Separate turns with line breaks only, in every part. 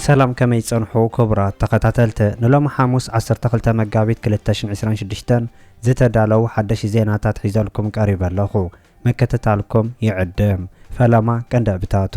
ሰላም ከመይ ጸንሑ ክቡራት ተኸታተልቲ ንሎሚ ሓሙስ 12 መጋቢት 2026 ዝተዳለው ሓደሽ ዜናታት ሒዘልኩም ቀሪበ ኣለኹ ምክትታልኩም ይዕድም ፈለማ ቀንዲ ዕብታቱ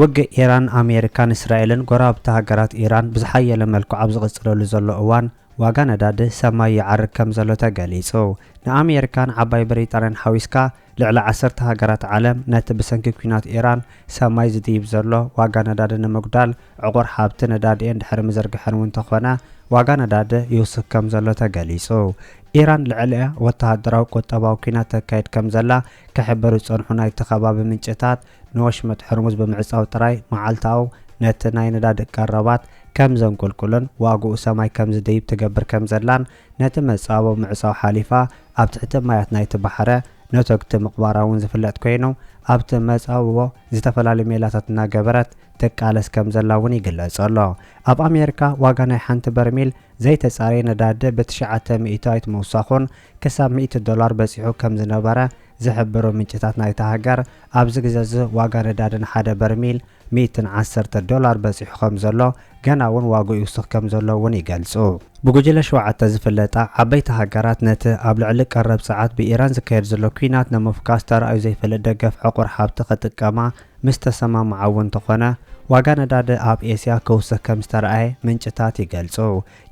ውግእ ኢራን፣ ኣሜሪካን እስራኤልን ጎረባብቲ ሃገራት ኢራን ብዝሓየለ መልክዑ ኣብ ዝቕጽለሉ ዘሎ እዋን፣ ዋጋ ነዳዲ ሰማይ ይዓርግ ከምዘሎ ተገሊጹ። ንኣሜሪካን ዓባይ ብሪጣንያን ሓዊስካ ልዕሊ ዓሰርተ ሃገራት ዓለም ነቲ ብሰንኪ ኲናት ኢራን ሰማይ ዝድይብ ዘሎ ዋጋ ነዳዲ ንምጉዳል ዕቑር ሃብቲ ነዳዲኤን ድሕሪ ምዝርግሐን እውን ተኾነ ዋጋ ነዳዲ ይውስኽ ከምዘሎ ተገሊጹ። ኢራን ልዕሊኣ ወተሃደራዊ ቁጠባዊ ኲናት ተካይድ ከምዘላ ክሕበሩ ዝጸንሑ ናይቲ ከባቢ ምንጭታት፣ ንወሽመጥ ሕርሙዝ ብምዕጻው ጥራይ መዓልታኡ ነቲ ናይ ነዳዲ ቀረባት ከም ዘንቁልቁልን ዋግኡ ሰማይ ከም ዝድይብ ትገብር ከም ዘላን ነቲ መጻብቦ ምዕጻው ሓሊፋ ኣብ ትሕቲ ማያት ናይቲ ባሕረ ነቶግቲ ምቕባራ እውን ዝፍለጥ ኮይኑ ኣብቲ መጻብቦ ዝተፈላለዩ ሜላታት እናገበረት ትቃለስ ከም ዘላ እውን ይግለጽ ኣሎ። ኣብ ኣሜሪካ ዋጋ ናይ ሓንቲ በርሚል ዘይተጻረየ ነዳዲ ብትሽዓተ ሚእታዊት ምውሳኹን ክሳብ ሚእቲ ዶላር በጺሑ ከም ዝነበረ ዝሕብሩ ምንጭታት ናይታ ሃገር፣ ኣብዚ ግዘ'ዚ ዋጋ ነዳዲ ንሓደ በርሚል ሚእትን ዓሰርተ ዶላር በጺሑ ከም ዘሎ፣ ገና'ውን ዋግኡ ይውስኽ ከም ዘሎ'ውን ይገልጹ። ብጉጅለ ሸውዓተ ዝፍለጣ ዓበይቲ ሃገራት፣ ነቲ ኣብ ልዕሊ ቀረብ ጸዓት ብኢራን ዝካየድ ዘሎ ኲናት ንምፍካስ ተራእዩ ዘይፈልጥ ደገፍ ዕቑር ሃብቲ ክጥቀማ ምስ ተሰማምዓ'ውን እንተኾነ፣ ዋጋ ነዳዲ ኣብ ኤስያ ክውስኽ ከም ዝተራእየ ምንጭታት ይገልጹ።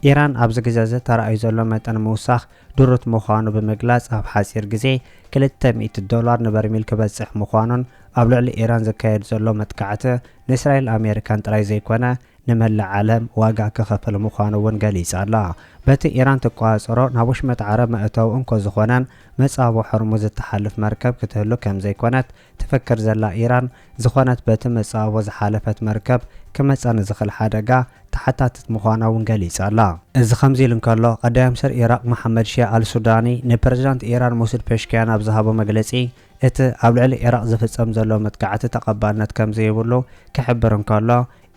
ኢራን ኣብዚ ግዜ'ዚ ተራእዩ ዘሎ መጠን ምውሳኽ ድሩት ምዃኑ ብምግላጽ ኣብ ሓጺር ግዜ ክልተ ሚእቲ ዶላር ንበርሚል ክበጽሕ ምዃኑን ኣብ ልዕሊ ኢራን ዝካየድ ዘሎ መጥቃዕቲ ንእስራኤልን ኣሜሪካን ጥራይ ዘይኮነ ንመላእ ዓለም ዋጋ ከኸፍል ምዃኑ'ውን ገሊጻ'ላ። በቲ ኢራን ትቆጻጸሮ ናብ ወሽመጥ ዓረብ መእተዊ እንኮ ዝኾነን መጻብቦ ሆርሙዝ እትሓልፍ መርከብ ክትህሉ ከምዘይኮነት ትፍክር ዘላ ኢራን ዝኾነት በቲ መጻብቦ ዝሓለፈት መርከብ ክመጽኣ ንዝኽል ሓደጋ ተሓታቲት ምዃና እውን ገሊጻ ኣላ። እዚ ከምዚ ኢሉ እንከሎ፣ ቀዳየምስር ኢራቕ መሓመድ ሺያ ኣልሱዳኒ ንፕረዚዳንት ኢራን መሱድ ፔሽክያን ኣብ ዝሃቦ መግለጺ እቲ ኣብ ልዕሊ ኢራቕ ዝፍጸም ዘሎ መጥቃዕቲ ተቐባልነት ከምዘይብሉ ክሕብር እንከሎ፣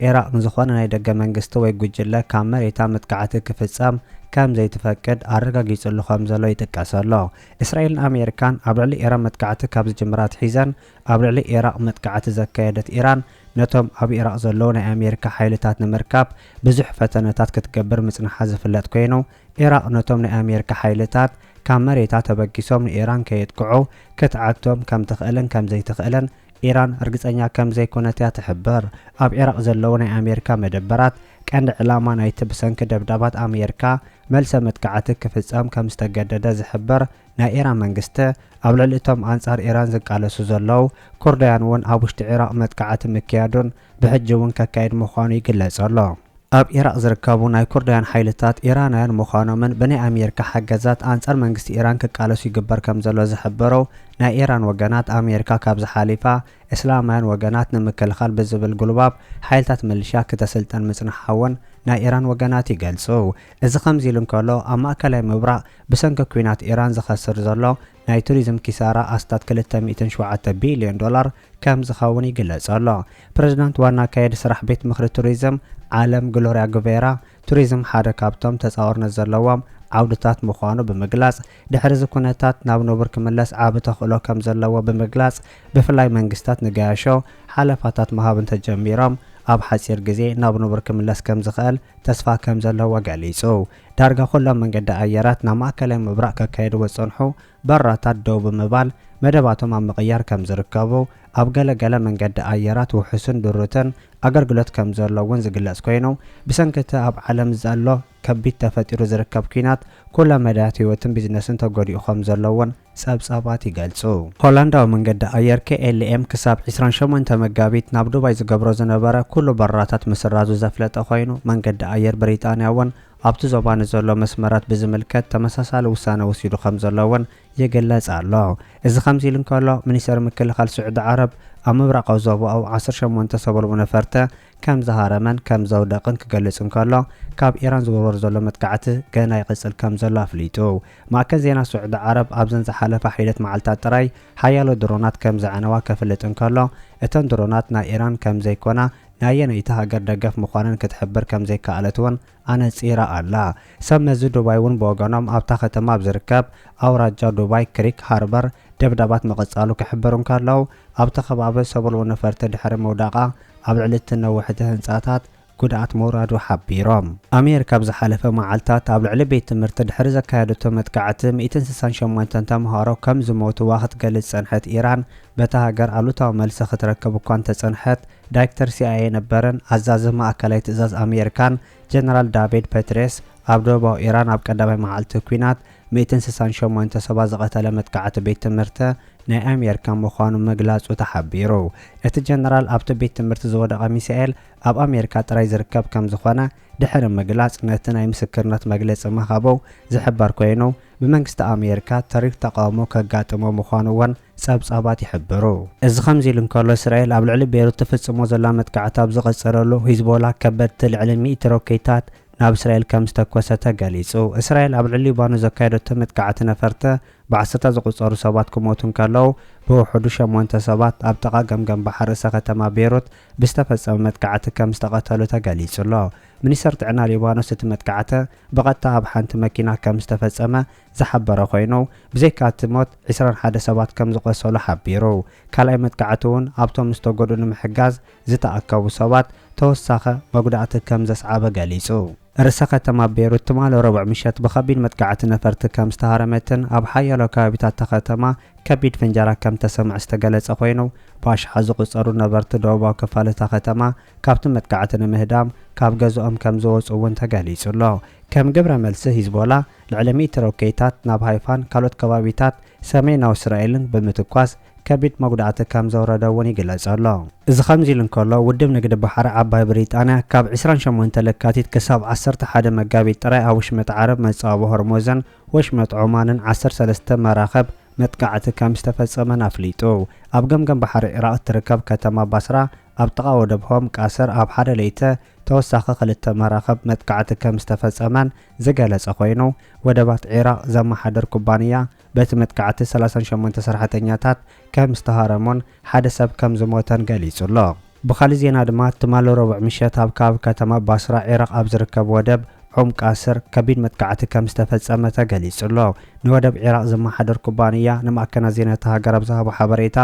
ዒራቕ ንዝኾነ ናይ ደገ መንግስቲ ወይ ጉጅለ ካብ መሬታ መጥቃዕቲ ክፍጸም ከም ዘይትፈቅድ ኣረጋጊጽሉ ከም ዘሎ ይጥቀሰ'ሎ። እስራኤልን ኣሜሪካን ኣብ ልዕሊ ኢራን መጥቃዕቲ ካብ ዝጅምራ ኣትሒዘን ኣብ ልዕሊ ዒራቕ መጥቃዕቲ ዘካየደት ኢራን ነቶም ኣብ ዒራቕ ዘለዉ ናይ ኣሜሪካ ሓይልታት ንምርካብ ብዙሕ ፈተነታት ክትገብር ምጽንሓ ዝፍለጥ ኮይኑ ዒራቕ ነቶም ናይ ኣሜሪካ ሓይልታት ካብ መሬታ ተበጊሶም ንኢራን ከየጥቅዑ ክትዓግቶም ከም ትኽእልን ከም ዘይትኽእልን ኢራን ርግጸኛ ከም ዘይኰነት እያ ትሕብር። ኣብ ዒራቕ ዘለዉ ናይ ኣሜሪካ መደበራት፣ ቀንዲ ዕላማ ናይቲ ብሰንኪ ደብዳባት ኣሜሪካ መልሰ መጥቃዕቲ ክፍጸም ከም ዝተገደደ ዝሕብር ናይ ኢራን መንግስቲ፣ ኣብ ልዕሊ እቶም ኣንጻር ኢራን ዝቃለሱ ዘለዉ ኩርዳውያን'ውን ኣብ ውሽጢ ዒራቕ መጥቃዕቲ ምክያዱን ብሕጂ'ውን ከካይድ ምዃኑ ይግለጽ ኣሎ። ኣብ ኢራቕ ዝርከቡ ናይ ኩርዳውያን ሓይልታት ኢራናውያን ምዃኖምን ብናይ ኣሜሪካ ሓገዛት ኣንጻር መንግስቲ ኢራን ክቃለሱ ይግበር ከምዘሎ ዝሕበረው ናይ ኢራን ወገናት ኣሜሪካ ካብዚ ሓሊፋ እስላማውያን ወገናት ንምክልኻል ብዝብል ጉልባብ ሓይልታት ምልሻ ክተስልጠን ምጽንሓውን ናይ ኢራን ወገናት ይገልጹው። እዚ ከምዚ ኢሉ እንከሎ ኣብ ማእከላይ ምብራቕ ብሰንኪ ኲናት ኢራን ዝኸስር ዘሎ ናይ ቱሪዝም ኪሳራ ኣስታት ክልተ ሚእትን ሸውዓተ ቢልዮን ዶላር ከም ዝኸውን ይግለጽ ኣሎ። ፕረዚዳንት ዋና ኣካያዲ ስራሕ ቤት ምኽሪ ቱሪዝም ዓለም ግሎርያ ጉቬራ፣ ቱሪዝም ሓደ ካብቶም ተጻዋርነት ዘለዎም ዓውድታት ምዃኑ ብምግላጽ፣ ድሕሪ እዚ ኩነታት ናብ ንቡር ክምለስ ዓቢ ተኽእሎ ከም ዘለዎ ብምግላጽ፣ ብፍላይ መንግስታት ንገያሾ ሓለፋታት ምሃብ እንተጀሚሮም ኣብ ሓጺር ግዜ ናብ ንቡር ክምለስ ከም ዝኽእል ተስፋ ከም ዘለዎ ገሊጹ። ዳርጋ ኩሎም መንገዲ ኣየራት ናብ ማእከላይ ምብራቕ ከካይድዎ ዝጸንሑ በራታት ደው ብምባል መደባቶም ኣብ ምቕያር ከም ዝርከቡ፣ ኣብ ገለ ገለ መንገዲ ኣየራት ውሑስን ድሩትን ኣገልግሎት ከም ዘሎ እውን ዝግለጽ ኮይኑ፣ ብሰንኪ እቲ ኣብ ዓለም ዘሎ ከቢድ ተፈጢሩ ዝርከብ ኲናት ኩለ መዳያት ህይወትን ቢዝነስን ተጎዲኡ ከም ዘሎ እውን ጸብጻባት ይገልጹ። ሆላንዳዊ መንገዲ ኣየር KLM ክሳብ ዕስራን ሸሞንተ መጋቢት ናብ ዱባይ ዝገብሮ ዝነበረ ኩሉ በረራታት ምስራዙ ዘፍለጠ ኮይኑ፣ መንገዲ ኣየር ብሪጣንያ እውን ኣብቲ ዞባ ንዘሎ መስመራት ብዝምልከት ተመሳሳሊ ውሳነ ወሲዱ ከምዘሎ እውን ይግለጽ ኣሎ። እዚ ከምዚ ኢሉ እንከሎ፣ ሚኒስተሪ ምክልኻል ስዑዲ ዓረብ፣ ኣብ ምብራቓዊ ዞባኡ ዓሰርተ ሸሞንተ ሰበልቡ ነፈርቲ ከምዝሃረመን ከምዘውደቕን ክገልጽ እንከሎ፣ ካብ ኢራን ዝውርወር ዘሎ መጥቃዕቲ ገና ይቕጽል ከምዘሎ ኣፍሊጡ። ማእከል ዜና ስዑዲ ዓረብ ኣብዘን ዝሓለፋ ሒደት መዓልታት ጥራይ ሓያሎ ድሮናት ከምዘዕነዋ ከፍልጥ እንከሎ፣ እተን ድሮናት ናይ ኢራን ከምዘይኮና ናየነይቲ ሃገር ደገፍ ምዃነን ክትሕብር ከምዘይከኣለት'ውን ኣነጺራ ኣላ። ሰብ መዚ ዱባይ'ውን ብወገኖም ኣብታ ከተማ ኣብ ዝርከብ ኣውራጃ ዱባይ ክሪክ ሃርበር ደብዳባት ምቕጻሉ ክሕብሩ እንከለው፣ ኣብቲ ከባቢ ሰቡልዊ ነፈርቲ ድሕሪ ምውዳቓ ኣብ ልዕሊ'ቲ ነዋሕቲ ህንጻታት ጉድኣት ምውራዱ ሓቢሮም። ኣሜሪካ ኣብ ዝሓለፈ መዓልታት ኣብ ልዕሊ ቤት ትምህርቲ ድሕሪ ዘካየደቶ መጥቃዕቲ ሚእትን ስሳን ሸሞንተን ተምሃሮ ከምዝሞቱዋ ክትገልጽ ዝጸንሐት ኢራን፣ በታ ሃገር ኣሉታዊ መልሲ ክትረክብ እኳ እንተጸንሐት፣ ዳይክተር ሲኣይኤ ነበርን ኣዛዚ ማእከላይ ትእዛዝ ኣሜሪካን ጀነራል ዳቪድ ፐትሬስ ኣብ ደቡባዊ ኢራን ኣብ ቀዳማይ መዓልቲ ኲናት ሚእትን ስሳን ሸሞንተ ሰባት ዝቐተለ መጥቃዕቲ ቤት ትምህርቲ ናይ ኣሜሪካ ምዃኑ ምግላጹ ተሓቢሩ። እቲ ጀነራል ኣብቲ ቤት ትምህርቲ ዝወደቐ ሚሳኤል ኣብ ኣሜሪካ ጥራይ ዝርከብ ከም ዝኾነ ድሕሪ ምግላጽ ነቲ ናይ ምስክርነት መግለጺ ምሃቡ ዝሕበር ኮይኑ ብመንግስቲ ኣሜሪካ ተሪር ተቓውሞ ከጋጥሞ ምዃኑ እውን ጸብጻባት ይሕብሩ። እዚ ከምዚ ኢሉ እንከሎ፣ እስራኤል ኣብ ልዕሊ ቤሩት ትፍጽሞ ዘላ መጥቃዕቲ ኣብ ዝቐጸለሉ፣ ሂዝቦላ ከበድቲ ልዕሊ ሚእቲ ሮኬታት ናብ እስራኤል ከም ዝተኮሰ ተገሊጹ። እስራኤል ኣብ ልዕሊ ሊባኖስ ዘካየደቶ መጥቃዕቲ ነፈርቲ ብዓሰርታት ዝቑጸሩ ሰባት ክሞቱ እንከለዉ፣ ብውሕዱ ሸሞንተ ሰባት ኣብ ጥቓ ገምገም ባሕሪ ርእሰ ከተማ ቤሩት ብዝተፈጸመ መጥቃዕቲ ከም ዝተቐተሉ ተገሊጹ'ሎ። ሚኒስተር ጥዕና ሊባኖስ እቲ መጥቃዕቲ ብቐጥታ ኣብ ሓንቲ መኪና ከም ዝተፈጸመ ዝሓበረ ኮይኑ፣ ብዘይካ እቲ ሞት ዕስራን ሓደ ሰባት ከም ዝቖሰሉ ሓቢሩ። ካልኣይ መጥቃዕቲ እውን ኣብቶም ዝተጎድኡ ንምሕጋዝ ዝተኣከቡ ሰባት ተወሳኺ መጉዳእቲ ከም ዘስዓበ ገሊጹ። ርእሰ ከተማ ቤይሩት ትማሊ ረቡዕ ምሸት ብኸቢድ መጥቃዕቲ ነፈርቲ ከም ዝተሃረመትን ኣብ ሓያሎ ከባቢታት እታ ከተማ ከቢድ ፍንጀራ ከም እተሰምዐ ዝተገለጸ ኮይኑ፣ ብኣሽሓት ዝቑጸሩ ነበርቲ ደቡባዊ ክፋል እታ ከተማ ካብቲ መጥቃዕቲ ንምህዳም ካብ ገዝኦም ከም ዝወጽኡ እውን ተገሊጹ ኣሎ። ከም ግብረ መልሲ ሂዝቦላ፣ ልዕሊ ሚእቲ ሮኬታት ናብ ሃይፋን ካልኦት ከባቢታት ሰሜናዊ እስራኤልን ብምትኳስ ከቢድ መጉዳእቲ ከም ዘውረደ እውን ይግለጽ ኣሎ። እዚ ከምዚ'ሉ እንከሎ፣ ውድብ ንግዲ ባሕሪ ዓባይ ብሪጣንያ ካብ ዕስራን ሸሞንተን ለካቲት ክሳብ ዓሰርተ ሓደ መጋቢት ጥራይ ኣብ ወሽመጥ ዓረብ፣ መጻብቦ ሆርሞዘን ወሽመጥ ዖማንን ዓሰርተ ሰለስተ መራኽብ መጥቃዕቲ ከም ዝተፈጸመን ኣፍሊጡ። ኣብ ገምገም ባሕሪ ዒራቕ እትርከብ ከተማ ባስራ ኣብ ጥቓ ወደብ ሆም ቃሰር ኣብ ሓደ ለይተ ተወሳኺ ክልተ መራኽብ መጥቃዕቲ ከም ዝተፈጸመን ዝገለጸ ኮይኑ፣ ወደባት ዒራቕ ዘመሓድር ኩባንያ፣ በቲ መጥቃዕቲ ሰላሳን ሸሞንተ ሰራሕተኛታት ከም ዝተሃረሙን ሓደ ሰብ ከም ዝሞተን ገሊጹ'ሎ። ብኻልእ ዜና ድማ፣ ትማሊ ረቡዕ ምሸት ኣብ ከባቢ ከተማ ባስራ ዒራቕ ኣብ ዝርከብ ወደብ ኡም ቃስር ከቢድ መጥቃዕቲ ከም ዝተፈጸመ ተገሊጹ'ሎ። ንወደብ ዒራቕ ዘመሓድር ኩባንያ ንማዕከናት ዜና እታ ሃገር ኣብ ዝሃቦ ሓበሬታ፣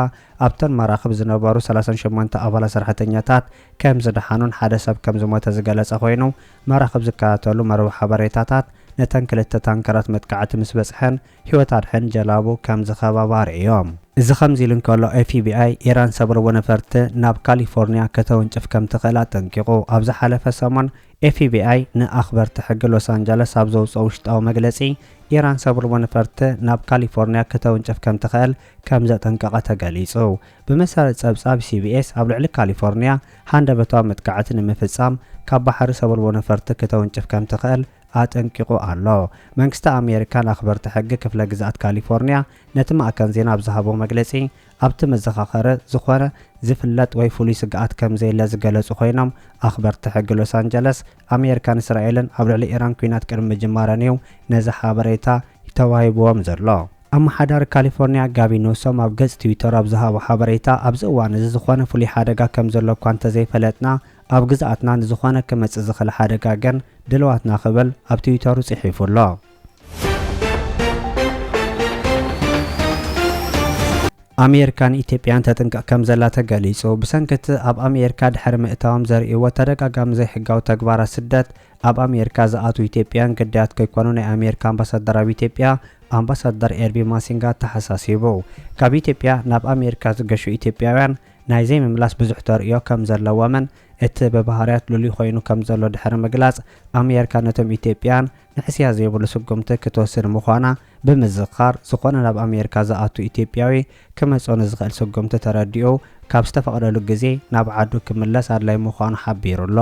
ኣብተን መራኽብ ዝነበሩ ሰላሳን ሸሞንተ ኣባላት ሰራሕተኛታት ከም ዝደሓኑን ሓደ ሰብ ከም ዝሞተ ዝገለጸ ኮይኑ፣ መራኽብ ዝከታተሉ መርበብ ሓበሬታታት ነተን ክልተ ታንከራት መጥቃዕቲ ምስ በጽሐን ህይወት ኣድሕን ጀላቡ ከም ዝኸባባ ኣርእዮም። እዚ ከምዚ ኢሉ እንከሎ፣ ኤፍቢኣይ ኢራን ሰብ ርቡዕ ነፈርቲ ናብ ካሊፎርንያ ከተውንጭፍ ከም ትኽእል ኣጠንቂቑ። ኣብ ዝሓለፈ ሰሙን ኤፍቢኣይ ንኣኽበርቲ ሕጊ ሎስ ኣንጀለስ ኣብ ዘውጽኦ ውሽጣዊ መግለጺ፣ ኢራን ሰብ ርቡዕ ነፈርቲ ናብ ካሊፎርንያ ከተውንጭፍ ከም ትኽእል ከም ዘጠንቀቐ ተገሊጹ። ብመሰረት ጸብጻብ ሲቢኤስ፣ ኣብ ልዕሊ ካሊፎርንያ ሃንደበታዊ መጥቃዕቲ ንምፍጻም ካብ ባሕሪ ሰበልቦ ነፈርቲ ክተውንጭፍ ከምትኽእል ኣጠንቂቑ ኣሎ። መንግስቲ ኣሜሪካን ኣኽበርቲ ሕጊ ክፍለ ግዝኣት ካሊፎርንያ ነቲ ማእከን ዜና ኣብ ዝሃቦ መግለጺ፣ ኣብቲ መዘኻኸሪ ዝኾነ ዝፍለጥ ወይ ፍሉይ ስግኣት ከምዘየለ ዝገለጹ ኮይኖም፣ ኣኽበርቲ ሕጊ ሎስ ኣንጀለስ፣ ኣሜሪካን እስራኤልን ኣብ ልዕሊ ኢራን ኲናት ቅድሚ ምጅማረን'ዩ ነዚ ሓበሬታ ተዋሂብዎም ዘሎ። ኣመሓዳሪ ካሊፎርኒያ ጋቪን ኒውሶም ኣብ ገጽ ትዊተሩ ኣብ ዝሃቦ ሓበሬታ፣ ኣብዚ እዋን እዚ ዝኾነ ፍሉይ ሓደጋ ከም ዘሎ እኳ እንተዘይፈለጥና፣ ኣብ ግዝኣትና ንዝኾነ ክመጽእ ዝኽእል ሓደጋ ግን ድልዋትና ክብል ኣብ ትዊተሩ ጽሒፉ ኣሎ። ኣሜሪካ ንኢትዮጵያን ተጥንቅቕ ከም ዘላ ተገሊጹ። ብሰንኪ እቲ ኣብ ኣሜሪካ ድሕሪ ምእታዎም ዘርእይዎ ተደጋጋሚ ዘይሕጋዊ ተግባራት ስደት፣ ኣብ ኣሜሪካ ዝኣትው ኢትዮጵያን ግዳያት ከይኮኑ ናይ ኣሜሪካ ኣምባሳደር ኣብ ኢትዮጵያ ኣምባሳደር ኤርቢ ማሲንጋ ኣተሓሳሲቡ። ካብ ኢትዮጵያ ናብ ኣሜሪካ ዝገሹ ኢትዮጵያውያን ናይ ዘይምምላስ ብዙሕ ተርእዮ ከም ዘለዎምን እቲ ብባህርያት ልሉይ ኮይኑ ከም ዘሎ ድሕሪ ምግላጽ ኣሜሪካ ነቶም ኢትዮጵያን ንሕስያ ዘይብሉ ስጉምቲ ክትወስድ ምዃና ብምዝኻር ዝኾነ ናብ ኣሜሪካ ዝኣቱ ኢትዮጵያዊ ክመጾ ንዝኽእል ስጉምቲ ተረዲኡ ካብ ዝተፈቕደሉ ግዜ ናብ ዓዱ ክምለስ ኣድላይ ምዃኑ ሓቢሩ ኣሎ።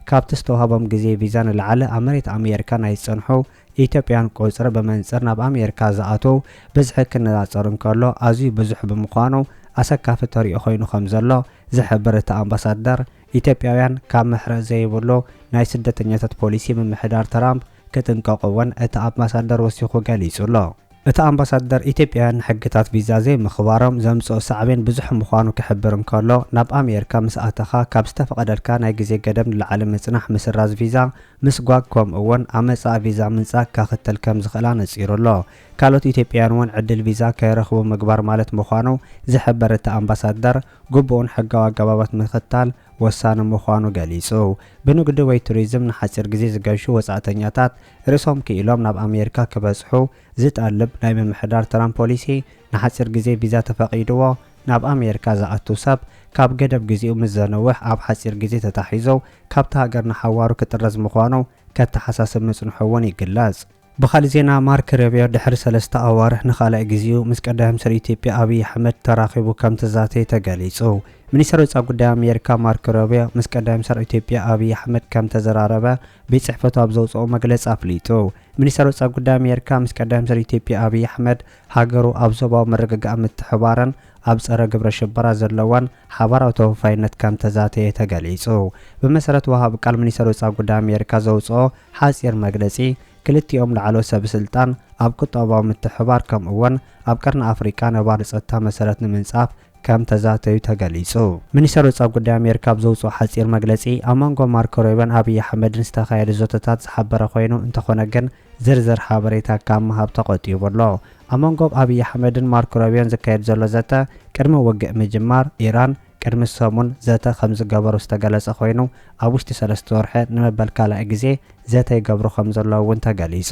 ካብቲ ዝተዋህቦም ግዜ ቪዛ ንላዕሊ ኣብ መሬት ኣሜሪካ ናይ ዝጸንሑ ኢትዮጵያውያን ቁጽሪ ብመንጽር ናብ ኣሜሪካ ዝኣትዉ ብዝሒ ክነጻጸር እንከሎ ኣዝዩ ብዙሕ ብምዃኑ ኣሰካፊ ተርእዮ ኮይኑ ከምዘሎ ዝሕብር እቲ ኣምባሳደር ኢትዮጵያውያን ካብ ምሕረት ዘይብሉ ናይ ስደተኛታት ፖሊሲ ምምሕዳር ትራምፕ ክጥንቀቑ እውን እቲ ኣምባሳደር ወሲኹ ገሊጹ ኣሎ። እቲ ኣምባሳደር፣ ኢትዮጵያውያን ንሕግታት ቪዛ ዘይምኽባሮም ዘምጽኦ ሳዕቤን ብዙሕ ምዃኑ ክሕብር እንከሎ፣ ናብ ኣሜሪካ ምስ ኣተኻ ካብ ዝተፈቐደልካ ናይ ግዜ ገደብ ንላዕሊ ምጽናሕ ምስራዝ ቪዛ፣ ምስጓግ ከምኡ'ውን ኣመጻ ቪዛ ምንጻግ ከኽትል ከም ዝኽእል ኣነጺሩ ኣሎ። ካልኦት ኢትዮጵያውያን'ውን ዕድል ቪዛ ከይረኽቡ ምግባር ማለት ምዃኑ ዝሕበር እቲ ኣምባሳደር፣ ግቡእን ሕጋዊ ኣገባባት ምኽታል ወሳኒ ምዃኑ ገሊጹ። ብንግዲ ወይ ቱሪዝም ንሓጺር ግዜ ዝገሹ ወጻእተኛታት፣ ርእሶም ክኢሎም ናብ ኣሜሪካ ክበጽሑ ዝጠልብ ናይ ምምሕዳር ትራምፕ ፖሊሲ፣ ንሓጺር ግዜ ቪዛ ተፈቒድዎ ናብ ኣሜሪካ ዝኣቱ ሰብ፣ ካብ ገደብ ግዜኡ ምስ ዘንውሕ ኣብ ሓጺር ግዜ ተታሒዙ ካብታ ሃገር ንሓዋሩ ክጥረዝ ምዃኑ ከተሓሳስብ ምጽንሑ'ውን ይግለጽ። ብኻልእ ዜና ማርክ ሮቢዮ ድሕሪ ሰለስተ ኣዋርሕ ንኻልኣይ ግዜኡ ምስ ቀዳማይ ሚኒስተር ኢትዮጵያ ኣብይ ኣሕመድ ተራኺቡ ከምተዛተየ ተገሊጹ። ሚኒስተር ወጻኢ ጉዳይ ኣሜሪካ ማርኮ ሮቢዮ ምስ ቀዳማይ ሚኒስተር ኢትዮጵያ ኣብይ ኣሕመድ ከም ተዘራረበ ቤት ጽሕፈቱ ኣብ ዘውጽኦ መግለጺ ኣፍሊጡ። ሚኒስተር ወጻኢ ጉዳይ ኣሜሪካ ምስ ቀዳማይ ሚኒስተር ኢትዮጵያ ኣብይ ኣሕመድ ሃገሩ ኣብ ዞባዊ ምርግጋእን ምትሕብባርን ኣብ ጸረ ግብረ ሽበራ ዘለዋን ሓባራዊ ተወፋይነት ከም ተዛተየ ተገሊጹ። ብመሰረት ወሃቢ ቃል ሚኒስተር ወጻኢ ጉዳይ ኣሜሪካ ዘውጽኦ ሓጺር መግለጺ ክልቲኦም ላዕለዎት ሰበስልጣን ኣብ ቁጠባዊ ምትሕብባር ከምኡ'ውን ኣብ ቀርኒ ኣፍሪቃ ነባሪ ጸጥታ መሰረት ንምንጻፍ ከም ተዛተዩ ተገሊጹ። ሚኒስተር ወጻኢ ጉዳይ ኣሜሪካ ኣብ ዘውጽኦ ሓጺር መግለጺ፣ ኣብ መንጎ ማርኮ ሩቢዮን ኣብይ ኣሕመድን ዝተኻየደ ዘተታት ዝሓበረ ኮይኑ፣ እንተኾነ ግን ዝርዝር ሓበሬታ ካብ ምሃብ ተቖጢቡ ኣሎ። ኣብ መንጎ ኣብይ ኣሕመድን ማርኮ ሩቢዮን ዝካየድ ዘሎ ዘተ፣ ቅድሚ ውግእ ምጅማር ኢራን ቅድሚ ሰሙን ዘተ ከምዝገበሩ ዝተገለጸ ኮይኑ፣ ኣብ ውሽጢ ሰለስተ ወርሒ ንመበል ካልኣይ ግዜ ዘተ ይገብሩ ከምዘለዉ እውን ተገሊጹ።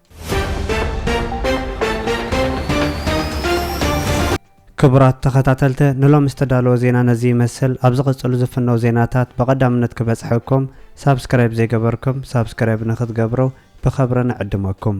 ክቡራት ተኸታተልተ ንሎም ዝተዳለወ ዜና ነዚ ይመስል ኣብ ዝቕጽሉ ዝፍነው ዜናታት ብቐዳምነት ክበጽሐኩም ሳብስክራይብ ዘይገበርኩም ሳብስክራይብ ንክትገብሩ ብኸብረ ንዕድመኩም